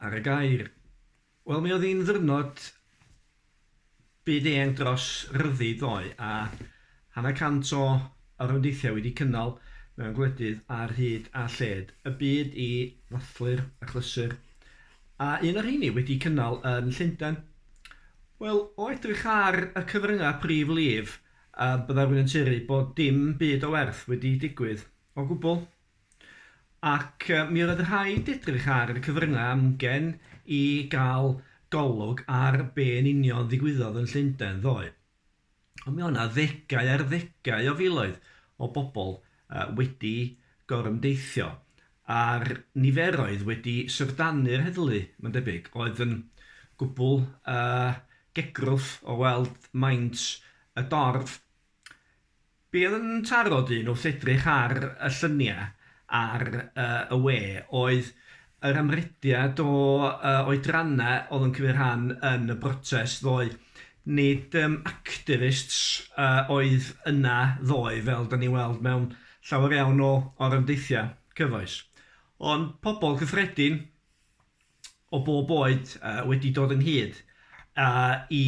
Ar y gair. Wel, mi oedd hi'n ddyrnod byd-eang dros ryddid ddoe, a hanner cant o orymdeithiau wedi cynnal mewn gwledydd ar hyd a lled y byd i ddathlu'r achlysur, a un o'r rheini wedi cynnal yn Llundain. Wel, o edrych ar y cyfryngau prif lif, byddai rhywun yn tueddu bod dim byd o werth wedi digwydd o gwbl. Ac mi oedd rhaid edrych ar y cyfryngau amgen i gael golwg ar be yn union ddigwyddodd yn Llundain ddoe. Ond mi oedd yna ddegau ar ddegau o filoedd o bobl wedi gorymdeithio, a'r niferoedd wedi syfrdanu'r heddlu, mae'n debyg. Oedd yn gwbl uh, gegrwth o weld maint y dorf. Bydd yn trafod un wrth edrych ar y lluniau ar y we oedd yr amrediad o oedrannau oedd yn cymryd rhan yn y brotest ddoe. Nid dim activists oedd yna ddoe fel dan ni'n weld mewn llawer iawn o orymdeithiau cyfoes, ond pobl gyffredin o bob oed wedi dod ynghyd i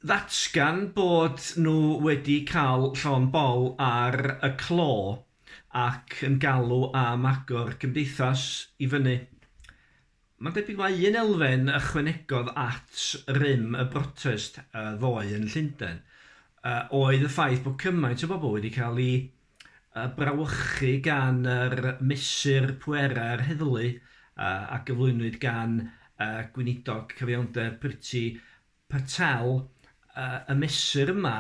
ddatgan bod nhw wedi cael llond bol ar y clo ac yn galw am agor cymdeithas i fyny. Mae'n debyg mai un elfen ychwanegodd at rym y brotest ddoe yn Llundain oedd y ffaith bod cymaint o bobl wedi cael eu brawychu gan yr mesur pwerau'r heddlu a gyflwynwyd gan Gweinidog Cyfiawnder Priti Petaw y mesur yma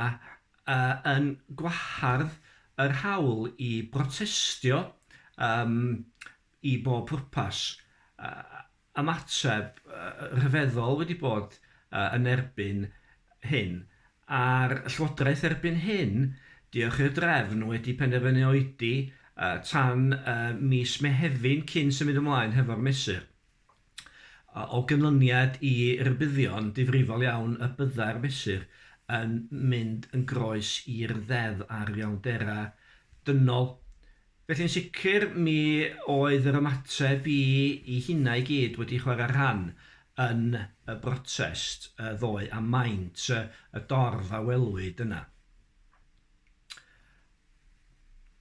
yn gwahardd yr hawl i brotestio i bob pwrpas, ymateb rhyfeddol wedi bod yn erbyn hyn, a'r Llywodraeth erbyn hyn, diolch i'r drefn, wedi penderfynu oedi tan mis Mehefin cyn symud ymlaen hefo'r mesur. O ganlyniad i rybuddion difrifol iawn y byddai'r Mesur yn mynd yn groes i'r Ddeddf ar Iselderau Dynol. Felly'n sicr mi oedd yr ymateb i i hynna i gyd wedi chwarae rhan yn y brotest ddoe a maint y dorf a welwyd yna.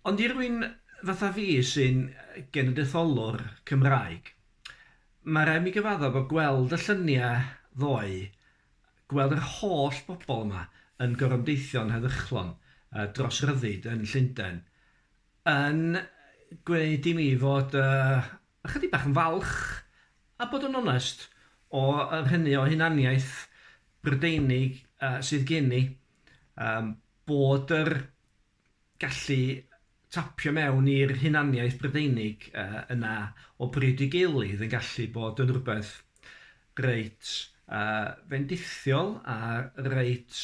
Ond i rywun fatha fi sy'n genedlaetholwr Cymraeg, mae rhaid mi gyfadda bod gweld y llynia ddoe, gweld yr holl bobl yma yn gorymdeithio'n heddychlon dros ryddid yn Llundain, yn gwneud i mi fod ychydig bach yn falch, a bod yn onest, o yr hynny o hunaniaeth Brydeinig sydd gen i. bod yr gallu tapio mewn i'r hunaniaeth Brydeinig yna o bryd i gilydd yn gallu bod yn rhywbeth reit fendithiol a reit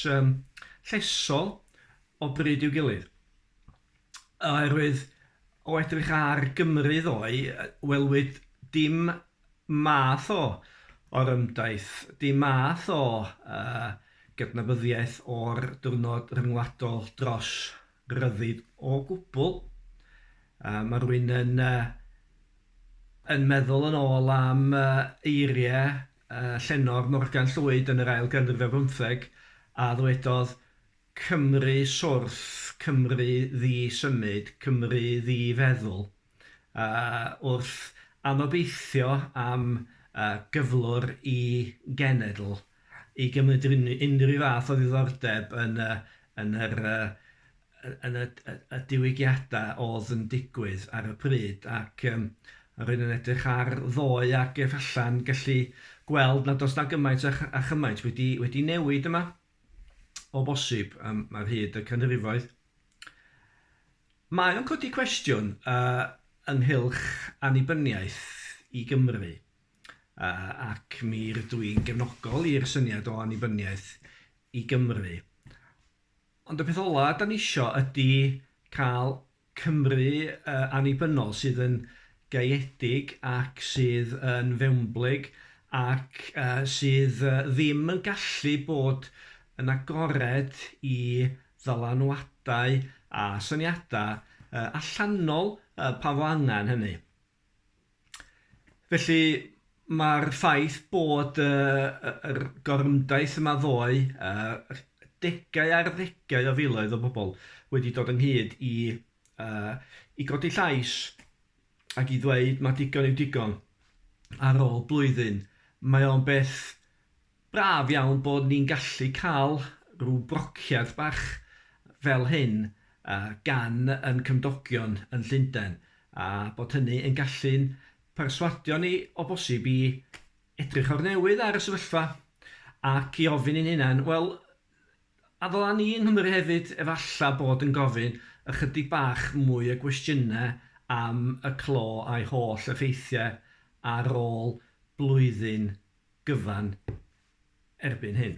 llesol o bryd i'w gilydd. Oherwydd o edrych ar Gymru ddoe, welwyd dim math o orymdaith, dim math o gydnabyddiaeth o'r diwrnod ryngwladol dros ryddid o gwbl. Mae rhywun yn yn meddwl yn ôl am eiriau llenor Morgan Llwyd yn yr ail ganrif ar bymtheg a ddwedodd Cymru Swrth, Cymru Ddi-symud, Cymru Ddi-feddwl, wrth anobeithio am gyflwr i genedl i gymryd unrhyw fath o ddiddordeb yn y diwygiadau oedd yn digwydd ar y pryd ac rwy'n yn edrych ar ddoe ac efallai'n gallu gweld nad oes 'na gymaint a chymaint wedi newid yma. o bosib um, ar hyd y canrifoedd. Mae o'n codi cwestiwn uh, ynghylch annibyniaeth i Gymru, uh, ac mi rydw i'n gefnogol i'r syniad o annibyniaeth i Gymru. Ond y peth ola da ni isio ydy cael Cymru annibynnol sydd yn gaeedig ac sydd yn fewnblyg ac sydd ddim yn gallu bod yn agored i ddylanwadau a syniadau allanol pan fo angen hynny. Felly, mae'r ffaith bod y, y, yr gorymdaith yma ddoe, uh, degau ar ddegau o filoedd o bobl wedi dod ynghyd i, uh, i godi llais ac i ddweud mae digon yw digon ar ôl blwyddyn. Mae o'n beth Braf iawn bod ni'n gallu cael rhyw brociad bach fel hyn gan ein cymdogion yn Llundain, a bod hynny yn gallu'n perswadio ni o bosib i edrych o'r newydd ar y sefyllfa ac i ofyn i'n hunain, wel, A ddyla ni yng Nghymru hefyd efallai bod yn gofyn ychydig bach mwy o gwestiynau am y clo a'i holl effeithiau ar ôl blwyddyn gyfan erbyn hyn?